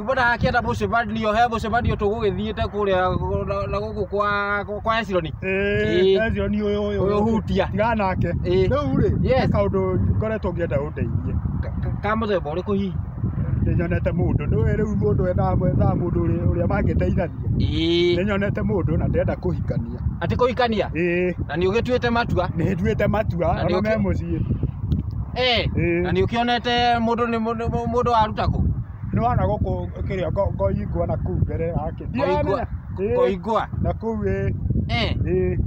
Nĩguo ndagakĩenda mũcemanio, he mũcemanio tũgũgĩthiĩte kũrĩa na- na gũkũ kwa- kwa Hesironi. Ĩĩ. ĩĩ Ezio ni uyu uyu Ũyũ hutia. tiga nake Ĩĩ. riu ri Yes. eka undu ngoretwo ngienda undeithie Ka- ka- Ka mũthemba ũrĩkũ hihi? ninyonete mundu nduĩ riu mundu endaga gwethaga mundu uri- uria mangiteithania Ĩĩ. ninyonete mundu na ndenda kuhikania Atĩ kũhikania? ĩĩ Na nĩ ũgĩtuĩte matua? nĩnduĩte matua Na ona me nĩũkĩ- mũciĩ Ĩĩ. Ĩĩ. Na nĩ ũkĩonete mũndũ nĩ mũndũ mũndũ waruta kũ? nĩ wana gũkũ kĩrĩa ngo- ngoingwa na kuu mbere yake Ngoingwa- Ĩĩ, Ngoingwa. na kuu ĩ Eh, ĩ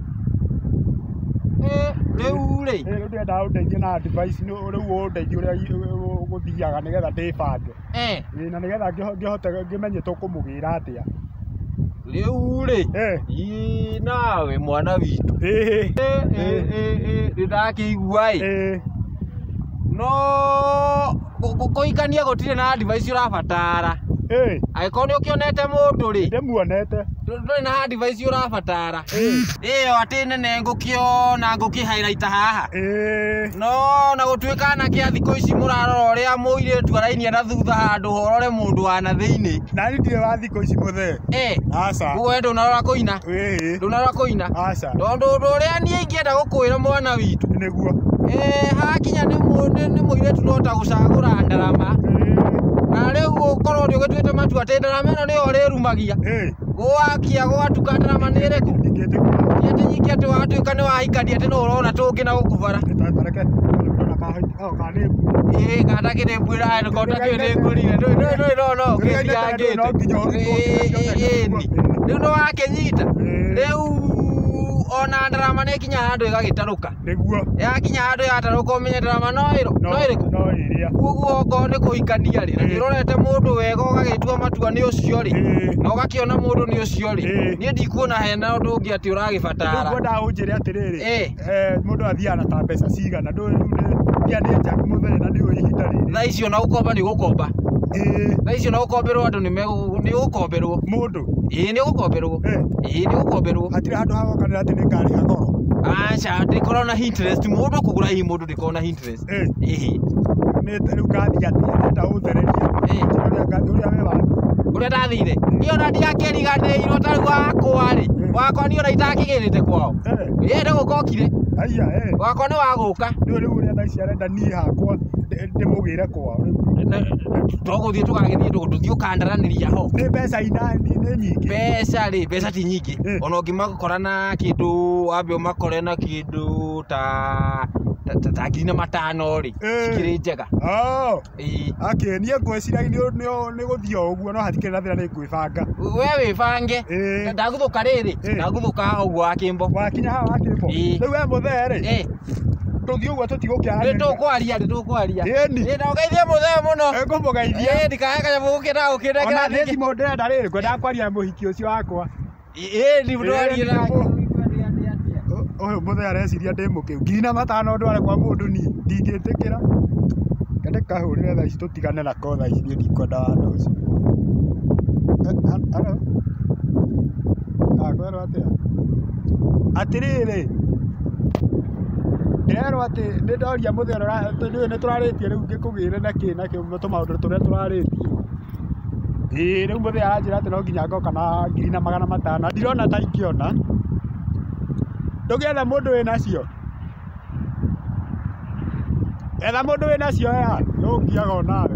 eh, rĩu rĩ. ĩ, rĩu ndĩrendaga ũndeithie na advice nĩ rĩu ũndeithie ũrĩa i- ũ- ũ- gũthiaga nĩgetha ndĩbange Eh, Ĩ, na nĩgetha ngĩho- ngĩhote ngĩmenye tũkũmũgĩra atĩa rĩu-rĩ Eh. ii nawe mwana witũ Eh. nĩ ndakĩigua-ĩ Eh. no kũ- kũ- kũhikania gũtirĩ na advice ũrabatara Eh. angĩkorwo nĩ ũkĩonete mũndũ-rĩ Ndĩmuonete. ndũrĩ na advice ũrabatara ĩyo atĩ nene ngũkĩona ngũkĩhairaita haha Eh. no na gũtuĩka anake a thikũ ici mũrarora ũrĩa mũirĩtu arainia na thutha handũ horore mũndũ wa na thĩinĩ Nani ndirĩ wa Thikũ ici mũthee. Eh, Aca. ũguo we ndũnarora kũina Wĩhĩ. ndũnarora kũina Aca. tondũ ũndũ ũrĩa niĩ ingĩenda gũkwĩra mwana witũ Nĩguo. eh, hakinya nĩ mũ- nĩ- nĩ mũirĩtu no ta gũcagũra ndarama na rĩu ũkorwo nĩ ũgĩtuĩte matua atĩ ndarama ĩno nĩyo ũrĩrumagia Ĩĩ. gwakia gwatuka ndarama nĩ ĩrĩkũ Ingĩtĩkĩra. nĩ atĩ nyingĩ atĩ watuĩka nĩ wahikania atĩ no ũrona tũngĩ na gũkubara Nĩtatareke. Nĩtatareke. Ĩĩ kana kĩrĩmbwĩra aya ngona kĩu nĩ ngorire ndũĩ ndũĩ ndũĩ no no kĩndigangĩte ĩĩni rĩu nĩwakĩnyita rĩu ona ndarama nĩkinya handũ ĩgagĩtarũka nĩguo yakinya handũ yatarũka ũmenye ndarama no ĩro no ĩrĩkũ no ĩrĩa koguo okorwo nĩ kũhikania rĩ na nĩũrorete mũndũ wega ũgagĩtua matua nĩ ũcio rĩ Ĩĩ. na ũgakĩona mũndũ nĩ ũcio rĩ Ĩĩ. niĩ ndikuona hena ũndũ ũngĩ atĩ ũragĩbatara ngwendaga ũnjĩre atĩrĩrĩ Ĩĩ. mũndũ athiaga na ta mbeca cigana ndũĩ rĩu nĩ mbia nĩ njagu mũthee na ndiũĩ ihinda rĩrĩ thaa ici ona gũkomba nĩ ũgũkomba ĩĩ thaa ici ona gũkomberwo andũ nĩ megũ- nĩ ũgũkomberwo mũndũ ĩĩ nĩ ũgũkomberwo eh, ĩĩ nĩ ũgũkomberwo hatirĩ handũ hagokanĩra atĩ nĩ ngarĩha goro aca ndĩkorwo na interest mũndũ kũgũra hihi mũndũ ndĩkorwo na interest ũrĩa ndathire niĩ ona ndiakĩriganĩirwo ta rĩu wakwa rĩ wakwa niĩ ona itakĩgĩrĩte kwao ĩ nĩ gũka okire wakwa nĩ wagũka tũgũthiĩ tũgagĩthiĩ tũthiĩ ũkandaranĩria ho mbeca rĩ mbeca ti nyingĩ ona ũngĩmakora na kĩndũ wambe ũmakore na kĩndũ kĩndũ ta ta- ta- ta ngiri na matano rĩ Eh. cikĩrĩ njega Oh, Ĩĩ. okay, niĩ ngwĩciragia nĩ- nĩ- nĩ gũthiĩ o ũguo no hatikĩrĩ na thĩna nĩ ngwĩbanga we wĩbange Ĩĩ. ndagũthũka rĩrĩ Ĩĩ. ndagũthũka haha ũguo wa kĩmbo wakinya haha wakĩmbo Ĩĩ. rĩu we mũthee rĩ Ĩĩ. tũthiĩ ũguo tũtigũkĩara Nĩ tũkwaria nĩ tũkwaria Ĩni. Ĩĩ, na ũgeithie mũthee mũno ngũmũgeithia Ĩĩ, ndikahe kanyamũ gũkĩra gũkĩra ona kĩrathi nĩ kĩ- thimũ ndĩrenda rĩrĩ ngwendaga kwaria mũhiki ũcio wakwa Ĩni ndwaria nake. Ũyũ mũthee areciria ndĩ mũkĩgu. Ngiri na matano ndware kwa mũndũ niĩ? Ndingĩtĩkĩra. Reke ndĩkahũrĩre thaa ici tũtigane nako thaa ici niĩ ndikwenda wanda ũcio. Haro? Aa kwerwo atĩa? Atĩrĩrĩ, ndĩrerwo atĩ nĩ ndoria mũthee ũrĩa ũrarĩtie rĩu ngĩkũgĩre na kĩ na kĩ tũmaũndũ tũrĩa tũrarĩtie. Ĩĩ rĩu mũthee aranjĩra atĩ no nginya ngoka na ngiri na magana matano na ndirona ta ingĩona, ndũgetha mũndũ wĩ nacio? etha mũndũ wĩ nacio aya nĩũkũgiaga onawe.